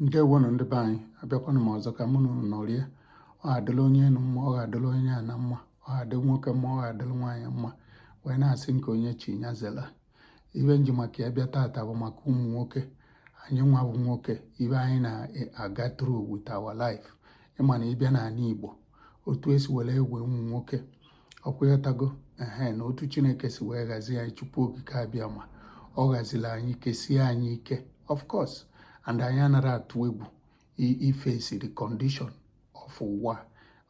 ndewonụ ndị be anyị abịakwanụ m ọzọ ka mụ na unu nọrịa ọ ga-adịla onye enu mma ọ ga-adịla onye ana mma ọ ga-adị nwoke mma ọ ga-adịla nwaanyị mma wee na-asị nke onye chi ya zela ibe m ji maka ya bịa taata bụ maka ụmụ nwoke anyị nwa bụ nwoke ibe anyị na-aga through with our life ị ma na ị bịa n'anị Igbo otu e si were ewe ụmụ nwoke ọkwa ịghọtago ehe na otu chineke si wee ghazie anyị chukwu okike abịama ọ ghaziri anyị kesie anyị ike of course and anyị anara atụ egwu iface the condition of ụwa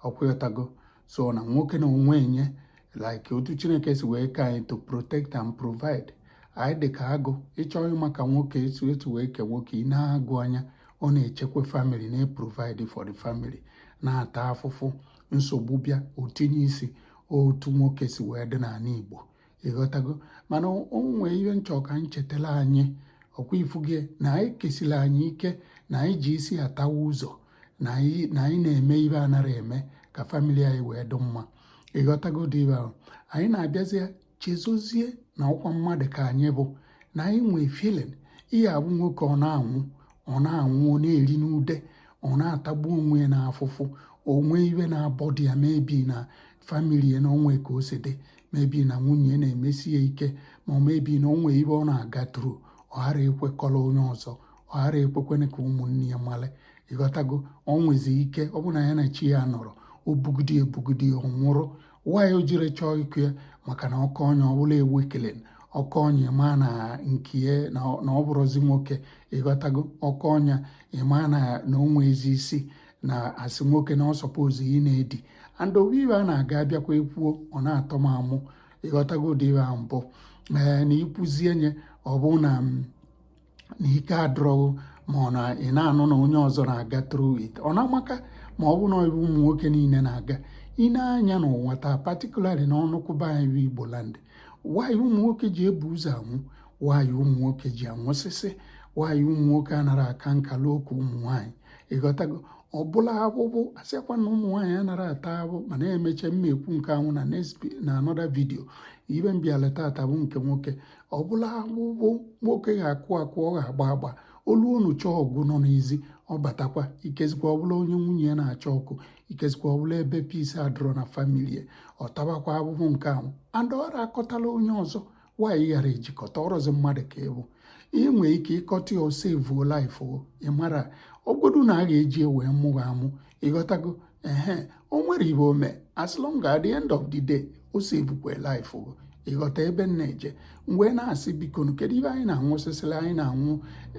ọkwa ịghọtago so na nwoke na onwe ya like otu chineke si wee kee anyị to protect and provide anyị dị ka agụ ị chọọ ịma ka nwoke etu etu wee kee nwoke i nee agụ anya ọ na-echekwa family na-eprovide for the family na-ata afụfụ nsogbu bịa o tinye isi otu nwoke si wee dị n'anị Igbo ịghọtago mana o nwee ibe m chọ ka anyị chetara anyị ọkwa ị fụgo na anyị kesiri anyị ike na anyị ji isi atawa ụzọ na anyị na-eme ibe anara eme ka family anyị wee dị mma ịghọtago ụdị ibe ahụ anyị na-abịazi chezọzie na ọkwa mmadụ ka anyị bụ na anyị nwee feeling ị ya-afụ nwoke ọ na-anwụ ọ na-anwụ ọ na-eri n'ude ọ na-atagbu onwe ya n'afụfụ o nwee ibe na-abother ya maybe na family ya na o nwee ka o si dị maybe na nwunye na-emesi ya ike ma maybe na o nwee ibe ọ na-aga through ọ ghara ekwe kọrọ onye ọzọ ọ ghara ekwekwene ka ụmụnne ya male ịghọtago ọ nwezi ike ọ bụ na ya na chi ya nọrọ o bugide ebugide ọ nwụrụ why m jiri chọọ ikwu ya maka na ọkọ onye ọbụla ewu ekele ọkọ onye ma na nke na ọ bụrụzi nwoke ịghọtago ọkọ onye ị ma na na o nwee ezi e si na-asị nwoke na ọ suppose ị na-edi and o nwee ibe a na-aga abịakwa ekwuo ọ na-atọ m amụ ịghọtago ụdị ibe ahụ mbụ ee na i kwuzie nye ọ bụ na na ike adịrọ ghụ ma ọ na ị na-anụ na onye ọzọ na-aga through it ọ na-amaka ma ọ bụ na ibe ụmụ nwoke niile na-aga i nee anya n'ụwa taa particularly na ọnụkwụ be anyị Igbo land why ụmụ nwoke ji ebu ụzọ anwụ why ụmụ nwoke ji anwụsịsị why ụmụ nwoke anara aka nka luo oke ụmụ nwaanyị ịghọtago ọ bụla abụbụ asịakwa na ụmụ nwaanyị anara ata abụbụ mana e mechaa m ma-ekwu nke ahụ na na another video ibe m bịala taata bụ nke nwoke ọ bụla abụbụ nwoke ga-akụ akụ ọ ga-agba agba olu unu chọọ ọgụ nọ n'ezi ọ batakwa ikezikwa ọ bụla onye nwunye ya na-achọ okwu ikezikwa ọ bụla ebe peace adọrọ na family ọ tabakwa abụbụ nke ahụ and ọ nara akọtala onye ọzọ why ị ghara eji kọta ọ rọzi mmadụ ka ị bụ ị nwee ike ịkọta ya ọ savuo life ị mara ọgodu na a ga-eji wee mụ ghị amụ ịghọtago ehe o nwere ive o me as long at the end of the day o sevukwe life gị ịghọta ebe m na-eje m wee na-asị bikonu kedu ive anyị na-anwụsịsịlị anyị na-anwụ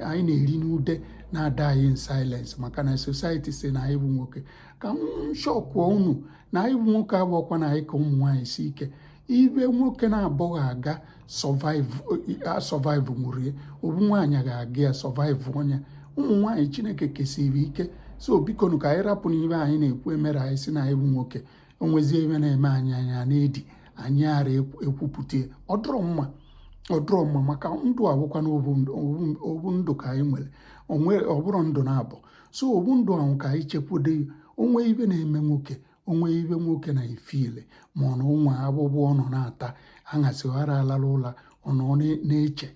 anyị na-eri ndude na-adayị in silence maka na society si na anyị bụ nwoke ka m shọkụọ unu na anyị bụ nwoke abụrọkwa na anyị ka ụmụ nwaanyị si ike ive nwoke na-abụghị aga survive nwụrụ ya ovu nwaanyị ga-aga ya survive onye ụmụ nwaanyị chineke kesiri ike so bikonu ka anyị rapụnụ ive anyị na-ekwu e mere anyị sị na anyị bụ nwoke o nwezie ive na-eme anyị anyị ana-edi anyị ara ekwupụta ọ dụrọ mma ọ dụrọ mma maka ndụ abụkwa na ovu ndụ ka anyị nwere ọ bụrọ ndụ naabọ so ovu ndụ ahụ ka anyị chekwudo o nwee ive na-eme nwoke o nwee ive nwoke na-efile ma ọ na ụmụ agbụgbọ ọ nọ na-ata aṅasị ghara alala ụla ọ nọ na-eche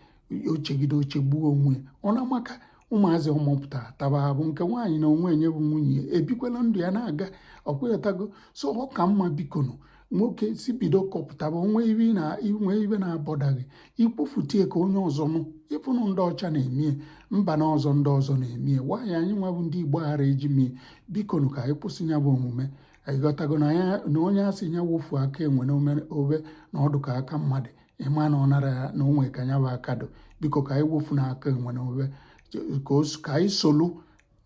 o chegide o chegbuo onwe ọ na-amaka ụmụazị ọ mụpụta taba bụ nke nwaanyị na onwe enye bụ nwunye ebikwala ndụ ya na-aga ọkwa ị ghọtago so ọ ka mma bikonu nwoke si bido kwupụtaba o nwee ive na i nwee ive na-abọda gị i kwufutie ka onye ọzọ nụ ịfụnụ ndị ọcha na-emie mba na ọzọ ndị ọzọ na-emie naanị anyị nwa bụ ndị igbo ghara eji mie bikonu ka anyị kwụsị ya bụ omume ịghọtago na onye sị ya wofu aka enwe na ove na ọ dụ ka aka mmadụ ị ma na ọ nara ya na o nwe ka ya bụ aka dụ biko ka anyị wofu na aka enwe na ove ka anyị solu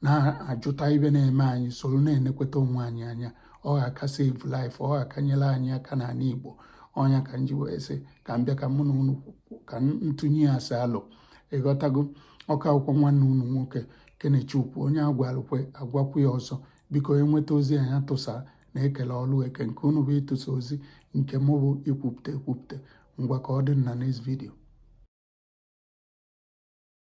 na-ajụta ive na-eme anyị solu na-enekweta onwe anyị anya ọ ga-aka save life ọ ga-aka nyere anyị aka n'ala Igbo ọ nya ka m ji wee sị ka m bịa ka mụ na unu ka m tụnye ya si alo ịghọtago ọ ka bụkwa nwanne unu nwoke Kenechukwu onye a gwalụkwe agwakwu ya ọzọ biko e nweta ozi anyị atụsa na e kele ọlụ eke nke unu bụ ịtụsa ozi nke mụ bụ ikwupụta ekwupụta ngwa ka ọ dị na next video